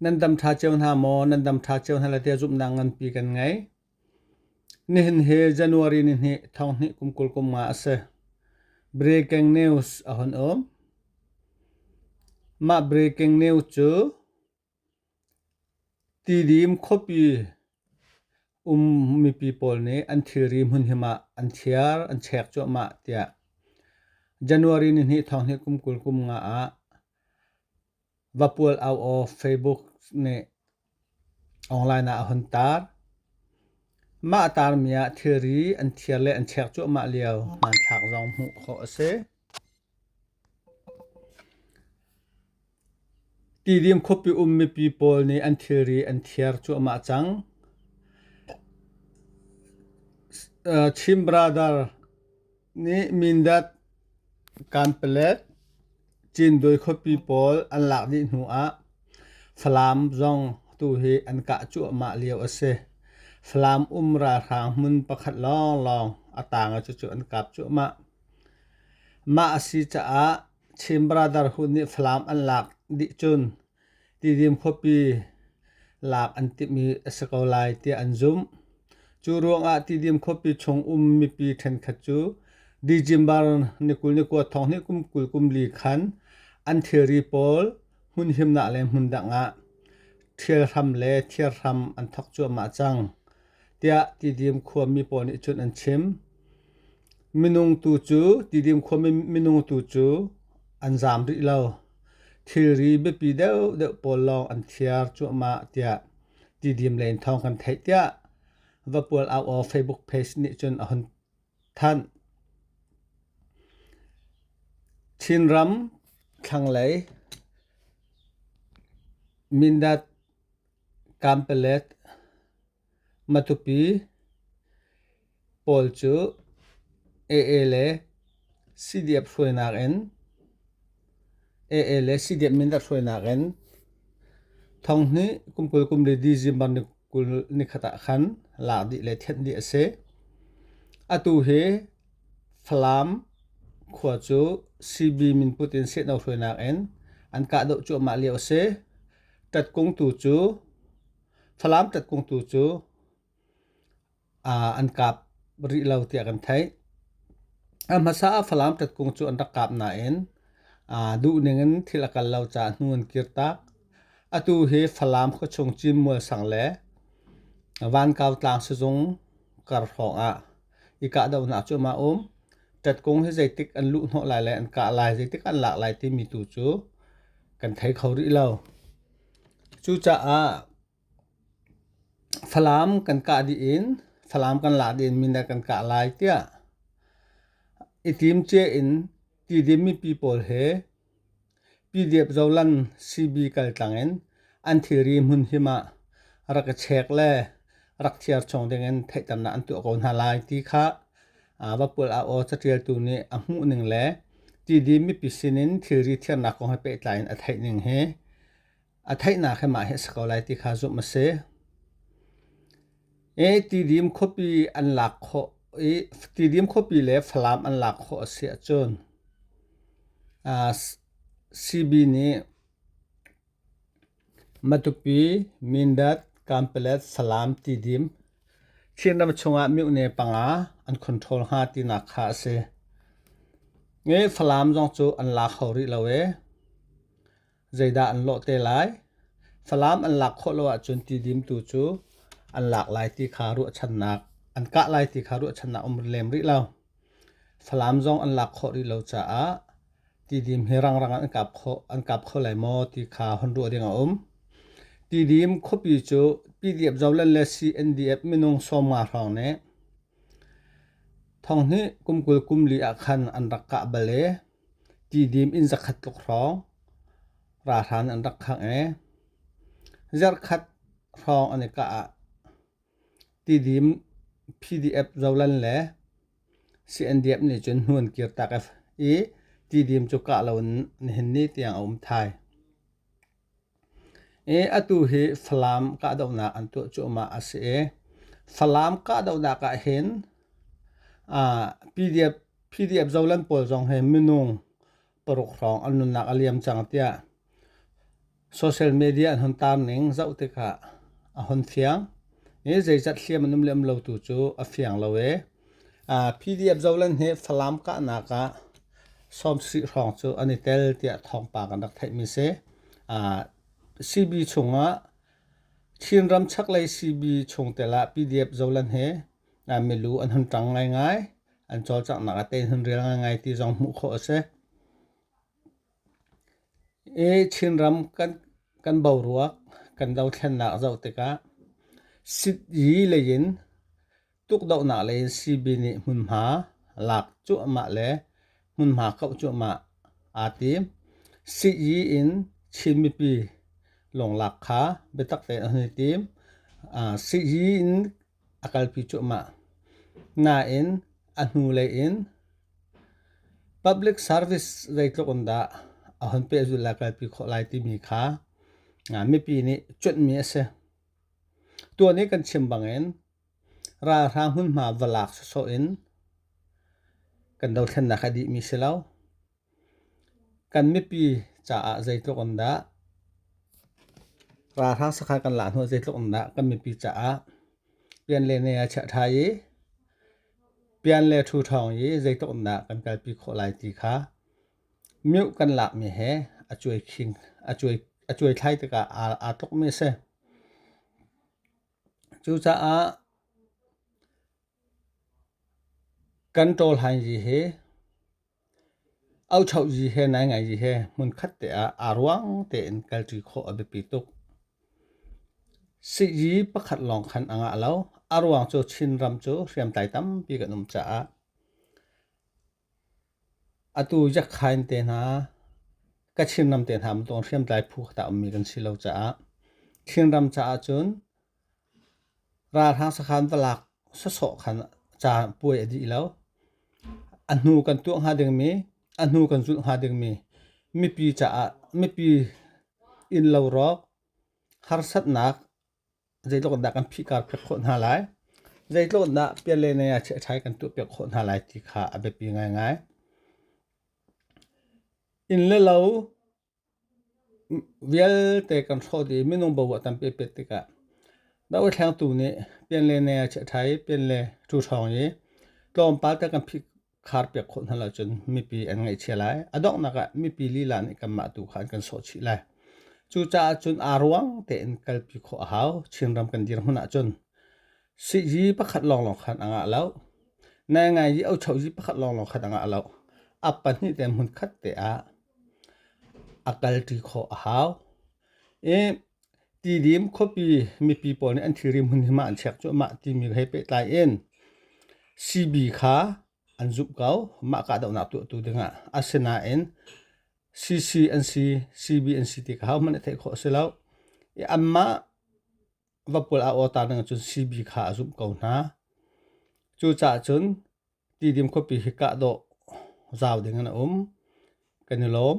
Nan dam ṭha cio hna maw? Nan dam ṭha cio hna le tia zumhnak nganpi kan ngei. Nihin hi January ni hnih thong hnih kum kul kum nga a si. Breaking news a hun um. Mah breaking news cu tidim khuapi um mipi pawl nih an thilri hmun hi mah an thiar, an chek cuahmah tiah January ni hnih thong hnih kum kul kum nga ah Va pual au aw Facebook nih online ah a hun taar. Mah a taarmi ah thilri an thiar le an chek cuahmah lio hmanthlak zong hmuh khawh a si. Tidim khuapi um mipi pawl nih an thilri an thiar cuahmah cang. Chin Brother nih Mindat, Kanpalet, Cindawi khuapi pawl an lak dih hnu ah Falam zong tu hi an kah cuahmah lio a si. Falam um ralhrang hmun pakhat lawnglawng a tang ah cucu an kap cuahmah. Mah a si caah Chin Brotherhood nih Falam an lak dih cun Tidim khuapi lak an timhmi a si ko lai tiah an zumh. Cu ruangah Tidim khuapi chung um mipi ṭhenkhat cu Dijimbar nikul nikua thong hnih kum kul kum li khan an thilri pawl hmun himnak le hmun dang ah ṭhial hram le thiar hram an thawk cuahmah cang, tiah Tidim khuami pawl nih cun an chim. Minung tu cu tidim khuami minung tu cu an zaam rih lo. Thilri biapi deuhdeuh pawl lawng an thiar cuahmah tiah tidim len thawng kan theih tiah Vapual Auaw Facebook page nih cun a hun thanh. Chinram thlanglei Mindat Kampelet Mathupi pawl cu aa le CDF hruainak in aa le CDF mindat hruainak in Thonghni kum kul kum le December ni kul ni khat ah khan lak dih le thenh dih a si. Atu hi Falam khua cu CB min put in sehno hruainak in an kahdoh cuahmah lio a si. Tatkung tu cu Thlalam tatkung tu cu an kap rih lo tiah kan theih. A hmasa ah Falam tatkung cu an rak kap nain duhning in thil a kal lo caah hnu an kir tak. Atu hi Falam khuachung Cinmual sang le Vankau tlang sizung kar hrawng ah i kahdohnak cu a um. Tatkung hi zeitik an luh hnawh lai le an kah lai, zeitik an lak lai timi tu cu kan thei kho rih lo. Cucaah Falam kan kah dih in Falam kan lak dih in mindat kan kah lai tiah i timcia in Tidim mipi pawl he PDF Zoland CB kaltlang in an thilri hmun him ah rak i check le rak thiar chong dingin theihternak an tuah ko hna lai ti kha vapul a aw catialtu nih a hmuh ning le tidi mipi sinin thilri thiarnak kong he pehtlai in a theih ning hi a theihnak he mah hi a si ko lai ti kha zumh a si e tidim khuapi an lak kho i tidim khuapi le falam an lak kho a si ahcun CB nih Matupi, Mindat, Kanpalet, Salam ti dim Chinram chungah mihne panga an control hnga tinak kha a si. Nge Falam zong cu an laa kho rih lo e. Zeidah an lawh te lai? Falam an lak khawh lo ahcun ti dim tu cu an lak lai ti kha ruahchannak an kah lai ti kha ruahchannak um lem rih lo. Falam zong an lak khawh rih lo caah tidim hi rangrang ah an kap kho lai maw ti kha hon ruah ding a um. Tidim khuapi cu PDF-Zoland le CNDF minung sawmnga hrawng nih thong hnih kum kul kum li ah khan an rak kah bal i tidim inn zakhat tluk hrawng ralhran an rak khangh i zarhkhat hrawng an i kah ah Tidim PDF zolan le CNDF nih cun hnuan kirtak i tidim cu kah lo in nihin ni tiang a um thai. I atu hi Falam kahdohnak an tuah cuahmah a si i Falam kahdohnak ah hin PDF, PDF zolan pawl zong hi minung paruk hrawng an nunnak a liam cang tiah social media an hon taam ning zoh tikah a hon fiang e zeizat hliam an um lem lo tu cu a fiang lo e a pdf zolan he falam kahnak ah sawmsih hrawng cu an i tel tiah thawngpa kan rak theih mi se a CB chungah Chin ram chaklei CB chungtel ah PDF zolan he a milu an hun tang ngai ngai an cawlcanghnak a tein rial ngaingai ti zong hmuh khawh a si. I Chinram kan, kan boruak kan dothlennak zoh tikah sit-yi leiin tukdohnak leiin CB nih hmunhma lak cuahmah le hmunhma kauh cuahmah aa tim. Sit-yi in Chin mipi lunglak kha biatak tein an i tim. Uh, sit-yi in a kalpi cuahmah. Nain, a hnulei in public service zeitluk in dah a hon pehzulh lai kalpi khawh lai timi kha mipi nih cuanhmi a si. Tuan i kan chim bangin ralhrang hmunhma va lak sawsawh in kan dothlennak a dihmi si lo. Kan mipi caah zeitluk in dah ralhrang sakha kan lah hnawh zeitluk in dah kan mipi caah pian le nei a chiah ṭha i pian le ṭhu ṭhawng i zeitluk in dah kan kalpi khawh lai ti kha miuh kan lakmi he a cuai khing a cuai a cuai thlai tikah aa aa tlukmi a si. Cucaah kan ṭawlhainzi hi Auchoh zi he naingai zi he hmunkhat te ah aa ruang tein kalṭi khawh a biapi tuk. Sihzi pakhat lawng khan a ngah lo. A ruang cu Chinram cu hriamtlai tampi kan um caah atu Yakhain te hna, Kachin ram te hna bantuk hriamtlai phu khat ah ummi kan si lo caah Chinram caah cun Ralhrang sakhan va lak sawsawh khan ca puai a dih lo. A hnu kan tuah hnga dingmi, a hnu kan zulh hnga dingmi mipi caah mipi innlo rawk harsatnak zeitluk in dah kan phihkar piak khawh hna lai, zeitluk in dah pian le nai ah chiaṭhai kan tuah piak khawh hna lai ti kha a biapi ngaingai. Inn le lo Vialte kan hrawt i minung bo a tampi a pet tikah dohothlengtu nih pian le ne a chiah ṭhan i pian le ṭu hrawng i tlawmpal te kan phih khar piak khawh hna lo cun mipi an ngaihchia lai. A donghnak ah mipi lila nih kanmah tu kha an kan sawh chih lai. Cucaah cun aa ruang tein kalpi khawh a hau. Chinram kan dirhmun ahcun sihzi pakhat lawnglawng khan a ngah lo. Naingai i ochohzi pakhat lawnglawng khan a ngah lo. A pahnih te hmunkhat te ah a kalṭi khawh a hau. I Tidim khuapi mipi pawl nih an thilri hmunhim ah an chek cuahmah timi he pehtlai in CB kha an zumh ko mah kahdohnak tuahtu dingah. Asinain CC an si, CB an si ti kha hohmanh i theih khawh a si lo. I anmah va pul a awtar ning ahcun CB kha a zumh ko hna. Cucaah cun Tidim khuapi hi kahdawh zau ding in a um. Kan i lawm.